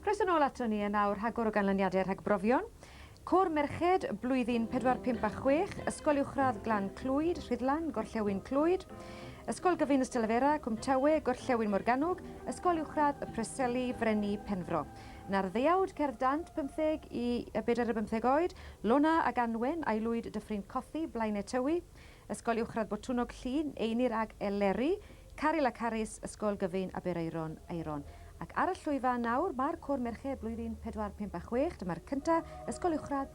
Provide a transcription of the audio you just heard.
Croeso nôl ato ni yn awr rhagor o ganlyniadau rhag brofion. Côr merched, blwyddyn pedwar, pump a chwech, Ysgol Uwchradd Glan Clwyd, Rhuddlan, Gorllewin Clwyd, Ysgol Gyfun Ystalyfera, Cwm Tawe, Gorllewin Morgannwg, Ysgol Uwchradd y Preseli, Frenni, Penfro. 'Na'r ddeuawd cerdd dant pymtheg i bedair a bymtheg oed, Lona ag Anwen, a'i lwyd Dyffryn Cothi, Blaenau Tywi, Ysgol Uwchradd Botwnnog Llŷn, Einir ag Eleri, Caryl a Carys, Ysgol Gyfun Aberaeron, Aeron. Ac ar y llwyfan nawr, mae'r Côr Merched Blwyddyn Pedwar, Pump a Chwech, dyma'r cynta, Ysgol Uwchradd,